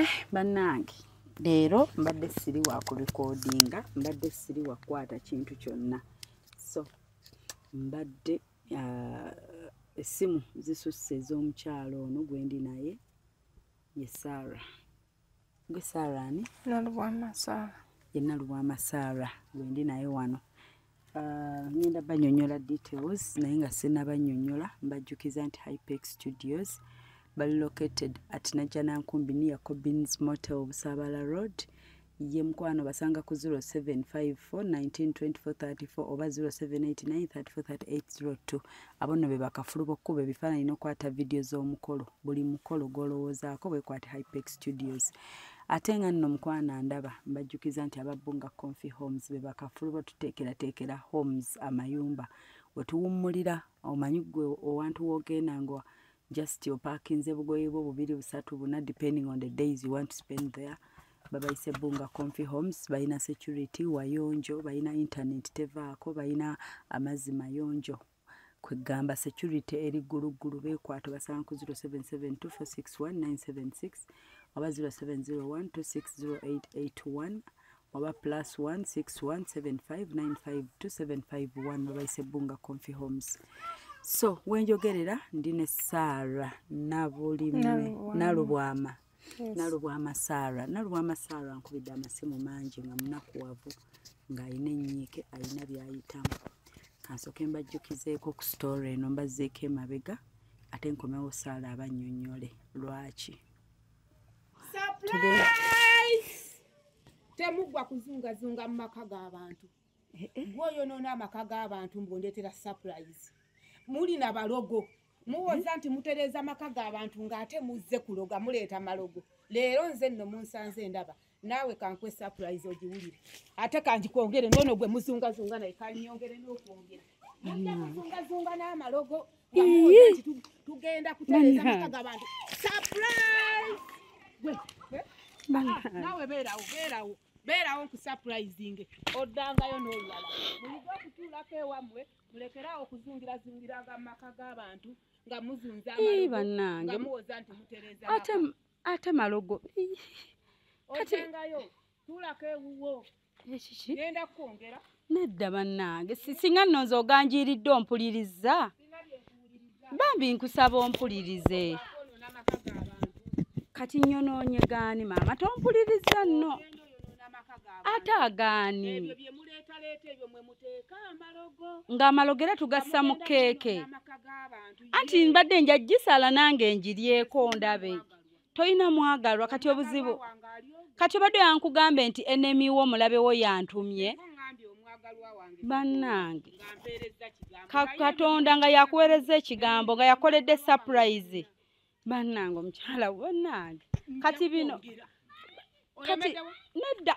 eh bannange leero mbadde siri wa kulikodinga mbadde siri wa kukwata kintu kyonna so mbadde ah, essimu zisusse ez'omukyalo ono gwendi naye ye sara gwe saara ani nalubwama saara ye nalubwama saara wendi naye wano ah, ngenda banyonyola details naye nga sinabanyonyola mbajjukiza nti hypex studios bali located at najanankumbi near cobins motel busabala road ye mukwano basanga ku 0754192434 oba 0789343802 abo nno be bakafulu b'okukuba ebifaananyi n'okwata vidiyo z'omukolo buli mukolo gw'olowoozaako bwekwate hypex studios ate nga nno mukwana ndaba mbajjukiza nti ababbunga confi homes be bakafulu batuteekerateekera homes amayumba wetuwummulira omanyi gwe owantu w'ogenda nga just opakinze bugoye bwo bubiri busatu buna depending on the days you want to spend there babayise bunga confi homes balina security wayonjo balina intaneti tevaako balina amazzi mayonjo kwegamba security eri gguluggulu beekwata basanga ku 0772461976 oba 0701260881 oba plus 16175952751 babayise bunga confi homes so wenjogerera ndi ne sara nabulime nalubwama nalubwama sara nalubwama sara nkubidde amasimu mangi nga munakuwavu ng'alina ennyiike alina byayitamu kansooke mbajjukizeeko ku sitoore eno mbazzeeko emabega ate nkomewo saala abannyonnyole lwaki temuggwa kuzungazunga mu maka g'abantu eh, eh. gwoyonoona amaka g'abantu mbundeetera surprise muli na balogo muwoza nti mutereeza amaka g'abantu ng'ate muzze kuloga muleeta malogo leero nze nno munsanze ndaba naawe kankwe sapurayizi ogiwulire ate kangikwongere noono gwe muzungazunga naye kanyongere n'okwongera mujja kuzungazunga n'amalogo tugenda kutereeza amaka g'abantu sapurayizi ah, naawe beerawo beerawo beerawo nkusapurayizinge oddangayo n'olulala muyiga okutuulako ewammwe mulekere awo kuzungirazingirango amaka g'abantu nga muzunza bannange muwoza nti mutereza ate ate malogo ojangayo tuulako ewuwo ekiki genda kukwongera nedda bannange singa nno nze oganjiiridde ompulirizza bambi nkusaba ompulirize kati nyonoonye gaani maama tompuliriza nno ate agaani ng'amalogo era tugassa mu keeke anti mbadde nja gisala nange njiryeko ndabe toyina mwagalwa kati obuzibu kati obadde yankugambe nti enemy wo mulabe wo yantumye bannange katonda nga yakuwereza ekigambo nga yakoledde surprise bannange omukyala bannange kati bino kati nedda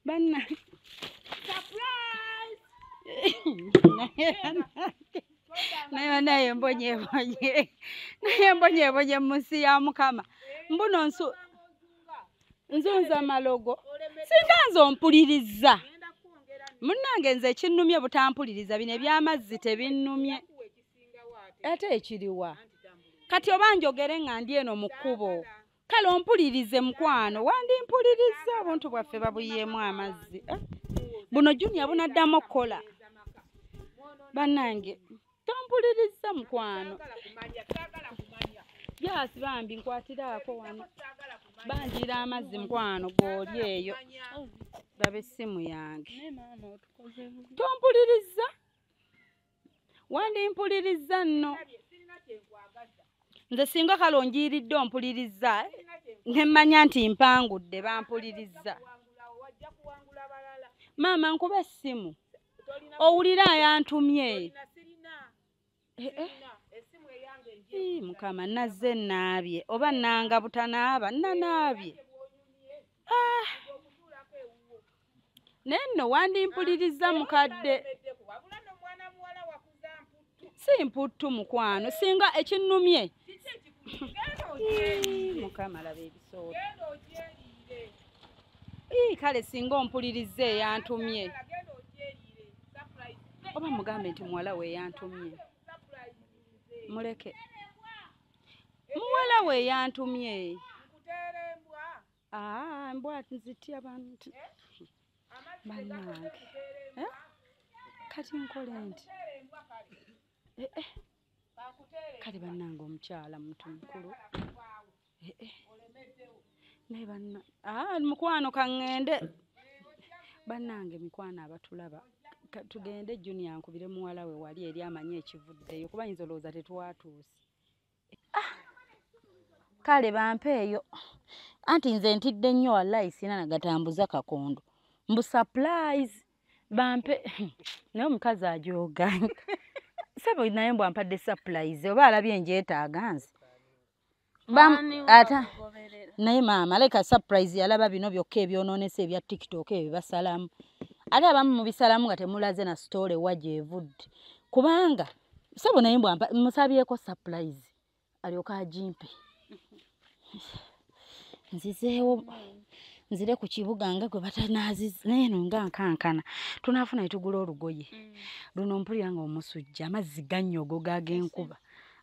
banna naye banaye mbonyebonye naye mbonyebonye mu nsi ya mukama mbuno nsu nzunza malogo singa nze ompuliriza munnange nze ekinnumye butampuliriza bino ebyamazzi tebinnumye ate ekiriwa kati oba njogere nga ndi eno mu kkubo kale ompulirize mukwano wandimpulirizza obuntu bwaffe babuyiemu amazzi eh? buno junia bunaddamu okukola banange tompulirizza mukwano yasi bambi nkwatiraako wano banjira amazzi mukwano gwoli eyo laba essimu yange tompulirizza wandimpulirizza nno nze singa kale onjiiridde ompulirizza nemmanya nti mpangudde bampulirizza maama nkuba essimu owulira ayantumye eh, eh. mukama nazze naabye oba nanga butanaaba nanaabye ah. naye nno wandimpulirizza mukadde si mputtu mukwano singa ekinnumye kale singa ompulirizza eyantumye oba mugambe nti muwala we eyantumye muleke muwala we eyantumye Aa, mbwa nzitya bantu banange eh? kati nkole nti eh, eh. kale banange omukyala muntu mukulu eh, eh. naye banna ah, mukwano kaŋŋende banange mikwano abatulaba tugende junior nkubire muwala we wali eri amanyi ekivuddeyo kuba yinza olowooza tetwatuuse ah, kale bampe eyo anti nze ntidde nnyo wallayi sina nagatambuza kakondo mbu supplies bampe naye omukazi ajoga sebo naye mbu ampadde supplies oba alabye enjetaaga nze ata naye maama leka surprise yalaba bino byokka ebyonoonesa ebya tiktok ebyo basalamu ate abamu mubisalamu nga temulaze na story wa gyevudde kubanga sebo naye mbwa musabyeko surprise alyoka ajimpe nzizeewo nzire ku kibuga nga gwe batanaaziza naye no nga nkankana tunaafuna ne tugula olugoye mm. luno mpulira nga omusujja amazzi gannyogo gaagenkuba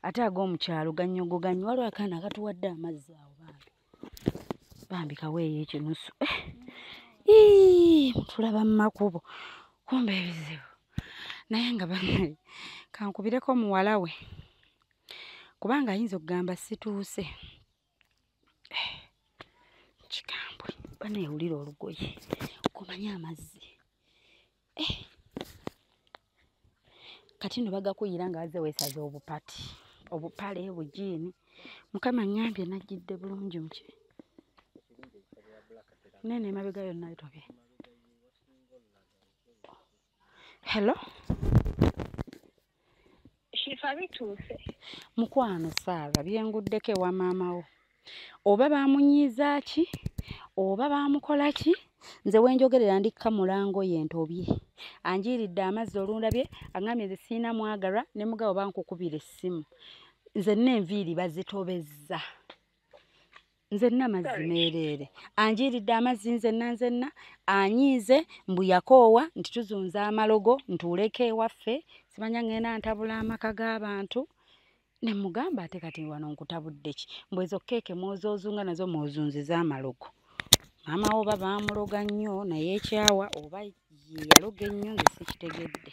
ate ag'omukyalo gannyogo gannyo waliwo akaana akatuwadde amazzi awo bambi bambi kaweeyo ekinusu eh, tulaba mu makubo kumba ebizibu naye nga banaye kankubireko muwala we kubanga ayinza okugamba situuse eh, kigambwe banaye wulira olugoye kumanya amazzi eh. kati no bagakuyira nga aze wesaza obupati obupale bujiini mukama ngambye najjidde bulungi muki nene emabega yonna etobye hello shifa bituuse mukwano saara byenguddeko ewa maama wo oba bamunyiiza ki oba bamukola ki nze wenjogerera ndikka mulango ye ntobye anjiiridde amazzi olundabye aŋambye nze siina mwagara ne mugabo bankukubira essimu nze nenviiri bazitobezza nzenna mazzi meereere anjiiridde amazzi nzenna nzenna anyiize mbu yakoowa nti tuzunza amalogo ntuuleko ewaffe simanya ngenda ntabula amaka g'abantu ne mugamba ate kati wano nkutabudde ki mbu ezo keeke mwozoozunga nazo mwozunziza amalogo maama wo oba baamuloga nnyo naye ekyawa oba yeyaloga ennyo nge sikitegedde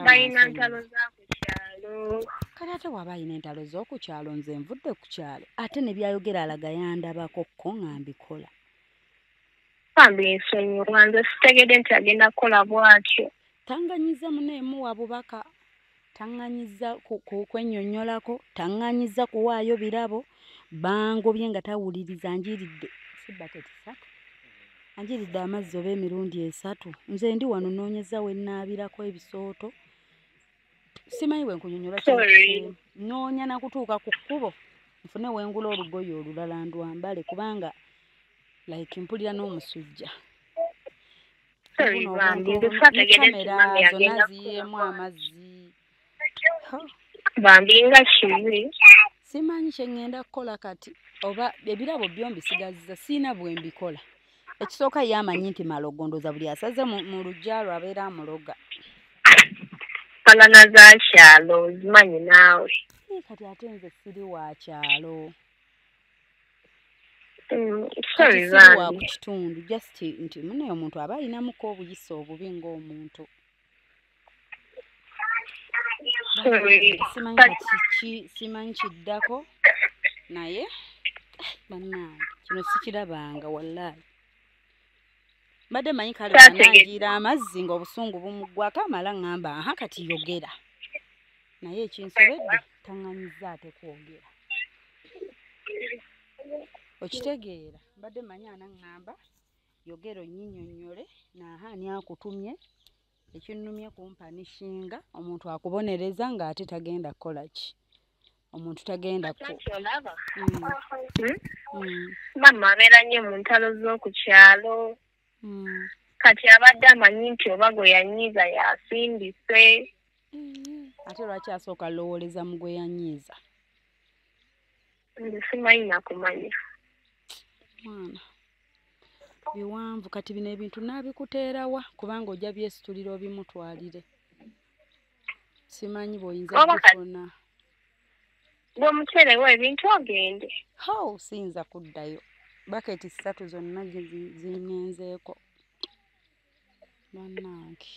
balina ntalo za ku kyalo kale ate waba alina entalo z'oku kyalo nze nvudde ku kyalo ate ne byayogera alaga yandabako ko nga mbikola bambi nsonyiwa nze sitegede nti agenda kukola bwatyo tanganyiza muneemuwa bubaka taŋŋanyiza kwenyonyolako taŋŋanyiza kuwaayo birabo bangobye nga tawuliriza njiridde sibaketi satu anjiridde amazzi oba emirundi esatu nze ndi wano noonyeza we nnaabirako ebisooto simanyi bwe nkunyonyola noonya nakutuuka ku kkubo nfune wengula olugoye olulala ndwambale kubanga like mpulira n'omusujja kamera zonna ziyiemu amazzi bambi nga kibi simanyi kyengenda kukola kati oba ebirabo byo mbisigaziza siina bwembikola ekisooka ye amanyi nti malogondoza buli asaze mu lujja lwe abeera amuloga falana za kyalo zimanyi naawe kati ate nze siri wa kyalo mm, wa ku kitundu just nti munaye omuntu aba ayinamuko obuyisa obubi ng'omuntu Sorry. simanyi But kati ki simanyi kiddako naye bannange kino sikirabanga wallahi mbadde manyi kale Kyategeka. banagiira amazzi ng'obusungu bumuggwako amala ŋŋamba aha kati yogera naye ekinsobedde taŋŋanyizza ate kwogera okitegeera mbadde manyi anaŋŋamba yogera onnyinyonnyole naaha ani akutumye ekinnumye kumpanishinga omuntu akubonereza ng'ate tagenda kukola ki omuntu tagenda ku mm. hmm? mm. maama abeera nnyo mu ntalo z'oku kyalo mm. kati abadde amanyi nti oba gwe yanyiiza yasindise ate lwaki asooka lowooleza mu gwe yanyiiza Nze simanyi nakumanya. Mwana. Biwanvu kati bino ebintu nabikuteerawa kubanga ojja byesitulira obimutwalire. Simanyi bw'oyinza kufuna. Gwe muteerewo ebintu ogende. How siyinza kuddayo. Baketi ssatu zonna zingenzeeko. Bannange.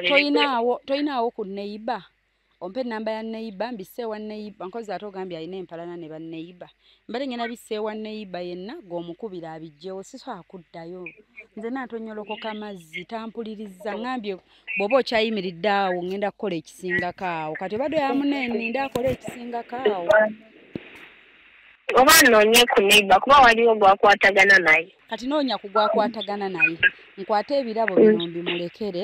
toyinaawo toyinaawo ku neiba ompe enamba ya neiba mbise ewa neiba nkozi ate ogambye alina empalana ne baneiba mbale ngenda bise ewa neiba yenna gweomukubira abijjewo sisobola kuddayo nze natonyolokoka amazzi tampuliriza ngambye bwoba okyayimiridde awo ngenda kukola ekisingako awo kati obadde oyamuneeni nda akola ekisingako awo oba noonye ku neiba kuba waliwo gwakwatagana naye kati noonya ku gwakwatagana naye nkwate ebirabo mm. bino mbimulekere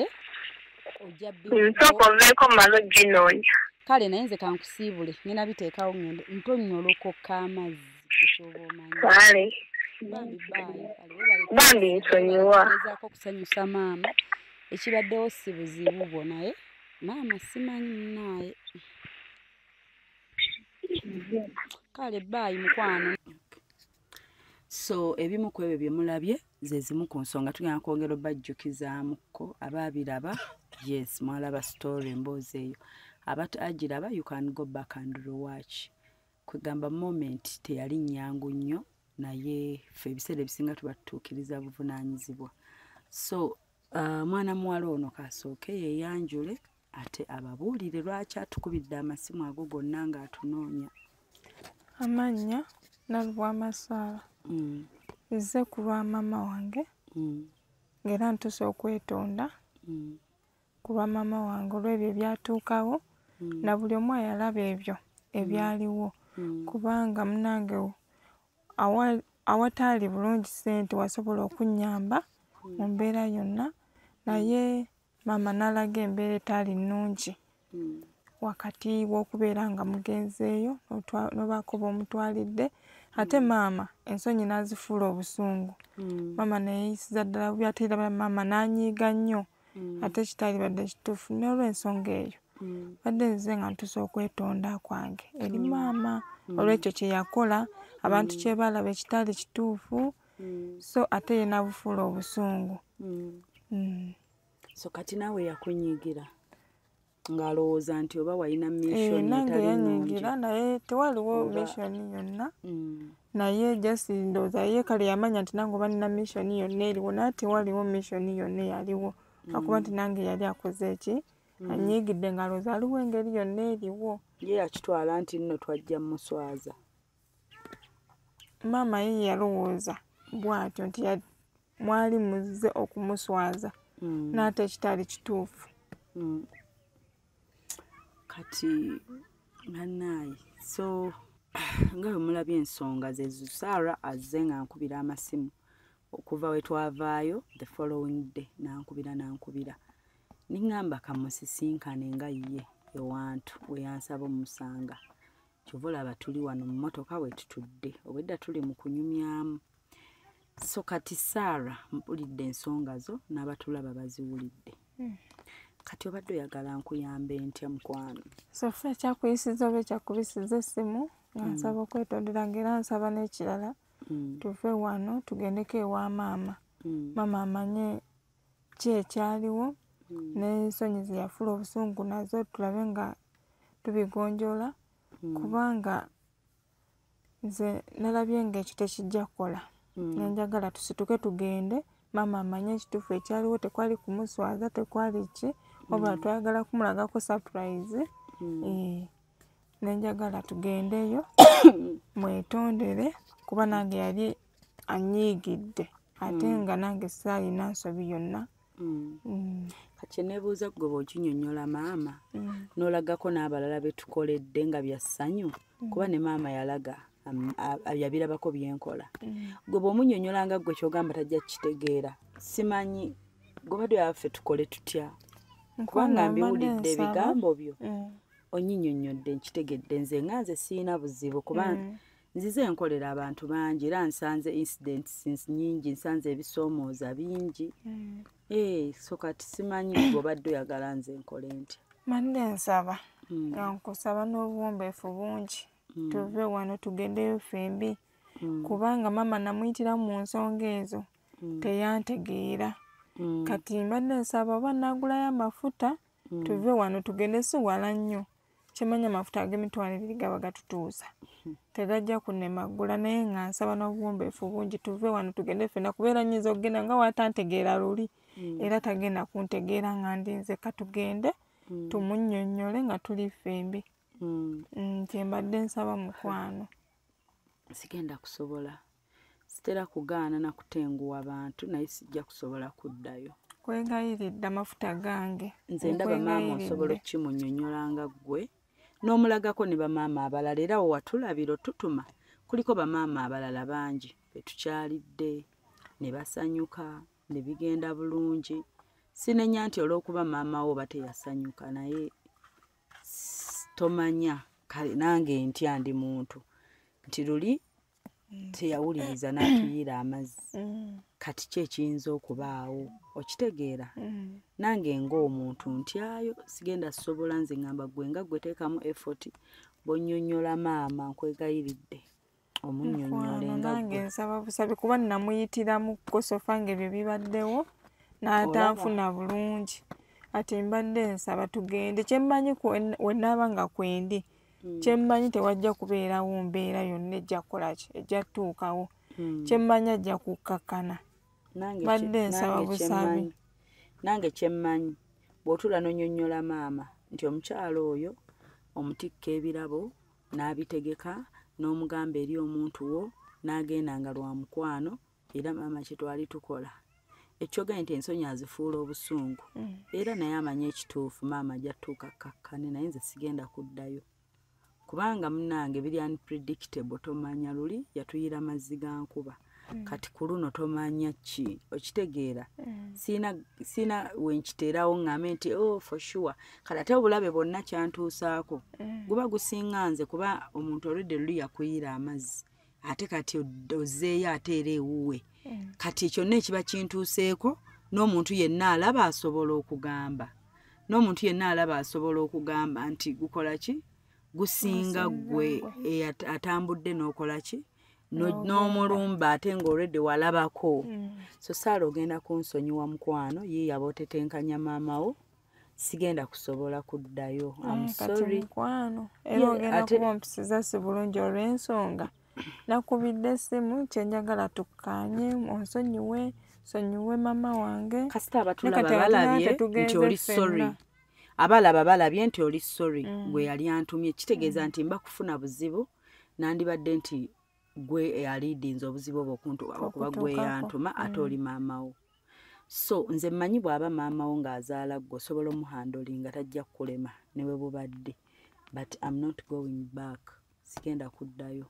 ojja nsooka mm, oveeko malo ginoonya kale naye nze kankusiibule ngenda biteekawo ngende ntonnyolokokka amazzi kale bambi nsonyiwa ezaako okusanyusa maama ekibaddewo si buzibu bwo naye maama simanyi munaaye kale baayi mukwano so ebimu ku ebyo bye mulabye ze zimu ku nsonga tugenda kwongera obajjukizaamukko abaabiraba yes mwalaba story emboozi eyo abat agiraba you can go back and rewatch kwegamba moment teyali nyangu nnyo naye fe ebiseera ebisinga tuba tutuukiriza buvunaanyizibwa so uh, mwana muwala ono kasooke yeyanjule ate ababuulire lwaki atukubidde amasimu ago gonna ng'atunoonya amannya nalubwamasaala mm. nze ku lwa maama wange mm. ng'era ntusa okwetonda mm. ku lwa maama wange olw'ebyo ebyatuukawo na buli omu ayalaba ebyo ebyaliwo kubanga munange awataali bulungi ssente wasobola okunnyamba mu mbeera yonna naye maama n'alaga embeera etaali nnungi hmm. wakati w'okubeera nga mugenzeeyo n'obaako b'omutwalidde ate hmm. maama ensonyi n'azifuula obusungu hmm. maama neyeyisiza ddala bubi ate era maama n'anyiiga nnyo ate kitaalibadde kituufu n'olwensonga eyo badde nzize nga ntusa okwetonda kwange eri maama olw'ekyo kye yakola abantu kye baalaba ekitaali kituufu mm. so ate yena bufuula obusungu mm. mm. so kati naawe yakunyigira ng'alowooza nti oba walina missionnange eh, yanyigira naye tewaliwo mission yonna mm. naye just ndowooza ye kale yamanya nti nange oba nina mission yonna eriwo naye tewaliwo mission yonna eyaliwo mm. akuba nti nange yali akoze eki mm. anyiigidde ng'alowooza aliwo engeri yonna eriwo ye yakitwala nti nno twajja muswaza maama ye yalowooza bw'atyo nti mwali muzze okumuswaza mm. n'ate ekitali kituufu mm. kati bannaayi so nga bwe mulabye ensonga zezo saara azze nga nkubira amasimu okuva we twavaayo the following day nankubira nankubira niŋŋamba kamusisinkane nga ye ewantu we yansaba omusanga kyova olaba tuli wano mu motoka wetutudde obwedda tuli mu kunyumyamu so kati saara mpulidde ensonga zo n'abatulaba baziwulidde hmm. kati obadde oyagala nkuyambe ntya mukwano sofia kyakuyisiza oba ekyakubisiza essimu nga hmm. nsaba okwetondera nga era nsaba n'ekirala hmm. tuve wano tugendeko ewa maama maama amanye ki ekyaliwo hmm. n'ensonyi ze yafula obusungu nazo tulabe nga tubigonjoola hmm. kubanga nze nalabye ng'ekyo tekijja kukola hmm. nenjagala tusituke tugende maama amanye ekituufu ekyaliwo tekwali kumuswaza tekwali ki wabula twayagala kumulagako surprise eh, nenjagala tugendeyo mwetondere kuba nange yali anyiigidde ate mm. nga nange saalina nsobi yonna mm. mm. kyenebuuza goba okinyonyola maama nolagako n'abalala betukoledde nga byassanyu kuba ne maama yalaga yabirabako byenkola goba omunyonyola nga gwe kyogamba tajja kukitegeera simanyi goba dyo yaffe tukole tutya kubanga mbiwulidde ebigambo byo onyinyonyodde nkitegedde nze nga nze siina buzibu kuba nzize enkolera abantu bangi era nsanze incidents nyingi nsanze ebisoomooza bingi mm. eh, so kati simanyi obadde oyagala nze enkole ntya manne nsaba mm. nkusaba n'obuwombeefu bungi mm. tuve wano tugendeyo fembi kubanga maama namuyitira mu nsonga ezo teyantegeera kati mbadde nsaba oba nagulayo amafuta tuve wano tugende siwala nnyo kimanya amafuta ag'emitwalo ebiri gaba gatutuusa tegajja kunemaggula naye nga nsaba n'obuwombeefu bungi tuve wano tugende ffena kubeera nyinza okugenda nga watantegeera luli mm. era tagenda kuntegeera nga ndinze katugende mm. tumunyonyole nga tuli ffembi mm. nti mbadde nsaba mukwano sigenda kusobola sitera kugaana na kutenguwa bantu naye sijja kusobola kuddayo kwegayiridde amafuta gange nze ndaba maama osobola okukimunyonyola nga ggwe n'omulagako ne bamaama abalala era wo watulabira otutuma kuliko bamaama abalala bangi be tukyalidde ne basanyuka ne bigenda bulungi sinenya nti olw'okuba maama wo oba teyasanyuka naye tomanya kale nange ntya ndi muntu nti luli mm. teyawuliriza n'atuyiira amazzi mm. kati ki ekiyinza okubaawo okitegeera mm. nange ng'omuntu ntyayo sigenda sobola nze ngamba gwe nga gweteekamu effort bonyonyola maama nkwegayiridde omunyonyole ngange nsaba busabi kuba namuyitiramu kukosofa nga ebyo bibaddewo n'atanfuna bulungi ati mbadde nsaba tugende kyemmanyi wenaaba nga kwendi mm. kyemmanyi tewajja kubeerawo mbeera yonna ejja kukolaki ejja tuukawo mm. kyemmanyi ajja kukkakkana badde nsaba busabi nange kyemmanyi bw'otuula nonyonyola maama nti omukyalo oyo omutikka ebirabo n'abitegeka n'omugamba eri omuntu wo n'agenda nga lwa mukwano era maama kyetwali tukola ekyogae nti ensonyi azifuula obusungu mm. era naye amanyi ekituufu maama ajatuuka kakkane naye nze sigenda kuddayo kubanga munange biri unpredictable tomanya luli yatuyira mazzi ga nkuba mm. kati ku luno tomanya ki okitegeera mm. siina wenkiteerawo ŋŋambe nti o oh, for sure kati ate obulabe bwonna kyantuusaako guba gusinga nze kuba omuntu olwedde luli yakuyira amazzi ate kati ozzeeyo ate era ewuwe hmm. kati kyonna ekiba kintuuseeko n'omuntu yenna alaba asobola okugamba n'omuntu yenna alaba asobola okugamba nti gukola ki gusinga gwe atambudde n'okola ki n'omulumba ate ng'olwedde walabako hmm. so saala ogenda kunsonyiwa mukwano ye yaba otetenkanya maama wo sigenda kusobola kuddayo mukwano era ogenda kuba ompisiza si bulungi olw'ensonga nakubidde essimu kyenjagala tukkaanye onsonyiwe sonyiwe mama wange kasita abatulaba balabye nti oli sorry abalaba balabye nti oli sorry mm. gwe yali antumye kitegeeza mm. nti mba kufuna buzibu nandibadde nti gwe eyaliidinze obuzibu obwo okuntubako kuba gwe yantuma ate mm. oli maama wo so nze mmanyi bw'aba maama wo ng'azaala gwe osobola omuhandoli nga tajja kukulema ne bwe bubadde but am not going back sigenda kuddayo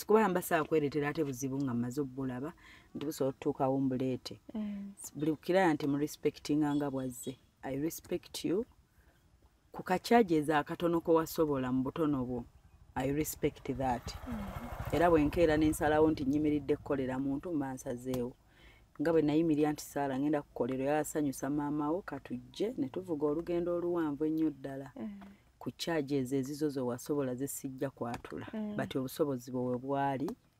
kuba mba saakwereetera ate buzibu nga mmaze obubulaba nti busobola okutuukawo mbuleete mm. buli kukiraya nti mu respectinga nga bwazze i respect you ku ka charges akatono ko wasobola mu butono bwo i respect that mm-hmm. era bwenkeera nensalawo nti nyimiridde kukolera muntu mba nsazeewo nga bwe nayimirira nti saala ngenda kukolera era asanyusa maamawo katujje ne tuvuga olugendo oluwanvu ennyo ddala mm. ku charges ezizo ze wasobola zesijja kwatula mm. but obusobozi bwe webwali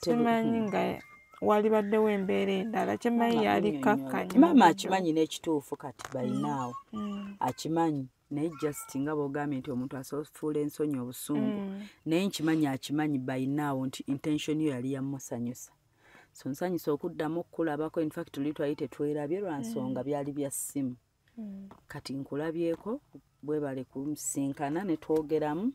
simanyi nga walibaddewo embeera endala kyemanyi yali kakkanya maama akimanyi n'ekituufu kati balinaawo mm. mm. akimanyi naye just nga bogambye nti omuntu asofuula ensonyi obusungu mm. naye nkimanyi akimanyi balinaawo nti intention yo yali yamusanyusa so nsanyusa okuddamu okukulabako infact tuli twali tetwerabye lwa nsonga byali bya ssimu mm. kati nkulabyeko bwebale kusinkana netwogeramu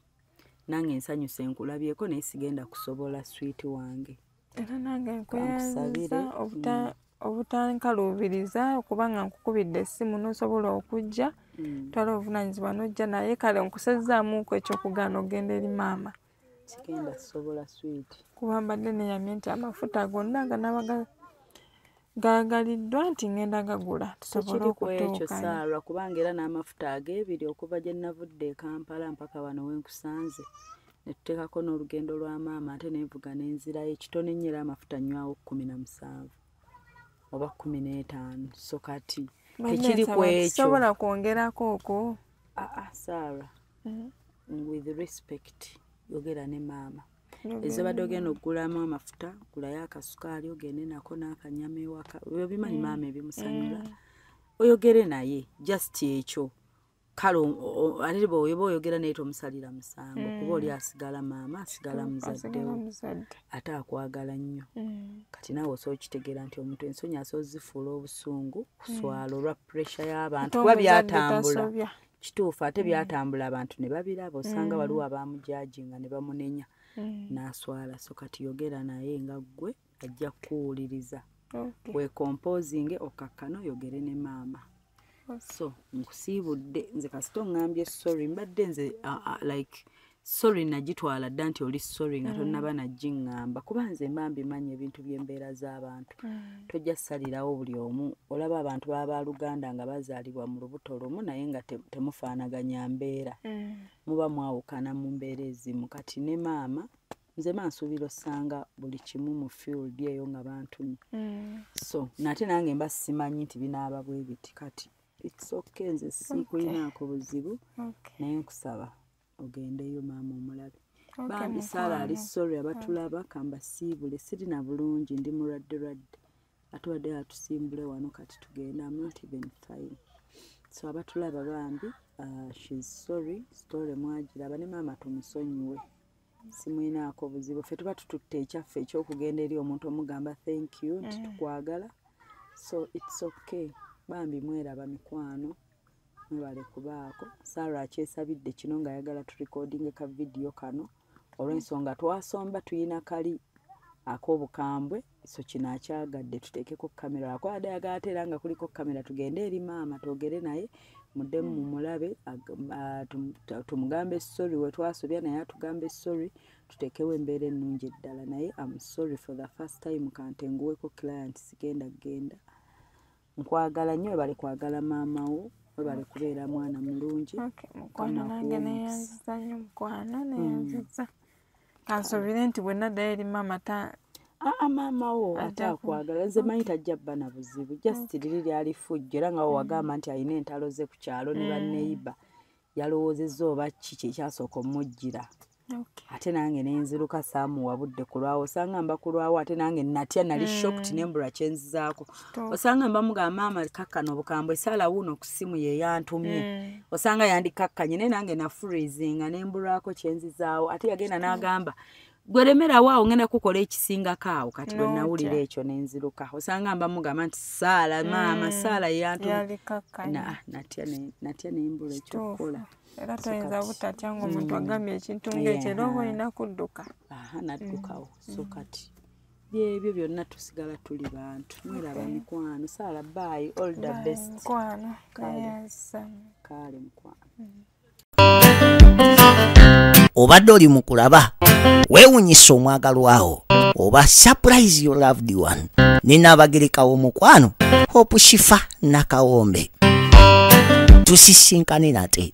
nange nsanyusa enkulabyeko naye sigenda kusobola switi wange era nange nkuyanziza mm. obutankaluubiriza okuba nga nkukubidde essimu nosobola okujja mm. twala obuvunanyizibwa nojja naye kale nkusezzaamuuku ekyokugaana ogenda eri maama sigenda kusobola swiiti kuba mbadde neyamye nti amafuta gonna ganaba gaagaliddwa nti ngenda gagula tusobole okutuukayo saarwa kubanga era n'amafuta ag'ebiri okuva gye navudde e kampala mpaka wano we nkusanze ne tuteekako n'olugendo lwa maama ate nenvuga n'enzirayo ekitone nnyo era amafuta nnywawo kkumi na musanvu oba kkumi n'etaano so kati tekiri ku ekyo sobola kwongerako okwo aa ah, ah, saarwa mm. with respect yogera ne maama ezobadde ogenda okugulamu amafuta gulayo akasukaali ogende nako n'akanyama ewaka obimanyi mm. maama ebimusanyula mm. oyogere naye just ekyo kale ate bwoba oyogera naye tomusalira musango mm. kuba oli asigala maama asigala muzaddewo ate akwagala nnyo mm. kati naawe osobola okitegeera nti omuntu ensonyi asobola zifuula obusungu kuswala mm. olwa puresha y'abantu kuba byatambula kituufu ate mm. byatambula abantu ne babiraba osanga mm. waliwo abamujajinga ne bamunenya mm. n'aswala so kati yogera naye nga ggwe ajja kukuwuliriza wekompozinge okakkana oyogere ne maama so nkusiibudde nze kasita oŋambye sorry mbadde nze like sorry nagitwala dda nti oli sorry nga mm. tonnaba nagiŋŋamba kuba nze mba mbimanyi ebintu by'embeera z'abantu mm. tojja salirawo buli omu olaba abantu baba baluganda nga bazaalibwa mu lubuto lumu naye nga temufaanaganya mbeera mm. muba mwawukana mu mbeera ezimu kati ne maama nze mansuubira osanga buli kimu mu field eyo nga bantumi so nate nange mba simanyi nti binaaba bwebiti kati it's okay nze sikulinaako buzibu naye nkusaba ogendeyo maama omulabe bambi saala ali sorry abatulaba kambasiibule sirina bulungi ndi mulwadde lwadde ate wadde atusimbule wano kati tugende am not even fine so abatulaba bambi uh, shes sorry story mwagiraba ne maama tumusonyiwe simwinaako buzibu ffe tuba tututte ekyaffe ekyokugenda eri omuntu omugamba thank you nti mm. tukwagala so its okay bambi mweraba mikwano mwebale kubaako sara akyesabidde kino nga ayagala turekodinge ka vidiyo kano olwensonga twasomba tuyina kali akobukambwe so kino akyagadde tuteekeko kamera akwada yagateera nga kuliko kamera tugende eri maama twogere naye mudemu mumulabe tumugambe sorry wetwasobya naye atugambe sorry tutekewo embeera ennungi eddala naye am sorry for the first time kantenguweko client sigenda genda nkwagala nyo webale kwagala maama wo webale kubeera mwana mulungi mukwano nange neyanziza nyo mukwano neyanziza mm. kansubire nti bwenaddayo eri maama ta aa maama wo ate akwagala nze manyi tajja bba na buzibu just liri lyali fujjo era nga wewagamba mm. nti alina entalo ze ku kyalo ne mm. baneiba yalowoozezza oba ki kyekyasooka omujjira ate nange nenziruka saamuwa budde kulwawo osanga mba kulwawo ate nange natya nali hmm. shokt nembula kyenzizaako osanga mba mugamba ama kakkana obukambwe esaala wuuno ku ssimu yeyantumye hmm. osanga yandikakkanye naye nange nafurizinga nembulwako kyenzizaawo ate yagenda n'agamba gwe lemerawo awo ngenda kukola ekisingako awo kati bwe nawulira ekyo nenziruka osanga mba mugamba nti saala mm. maama saala yeyantunatya nembula ekyokukola era toyinza butatya nga omuntu mm. agambye ekintu ngaekyo era oba olina kudduka naddukawo mm. so kati byebyo byonna tusigala tuli bantu mweraba mikwano saala baayi all the best kale mukwano obadde oli mu kulaba weewunyisa omwagalwawo oba surprise your loved one ninaabagerekawo omukwano hope shifa nakawombe tusisinkane nate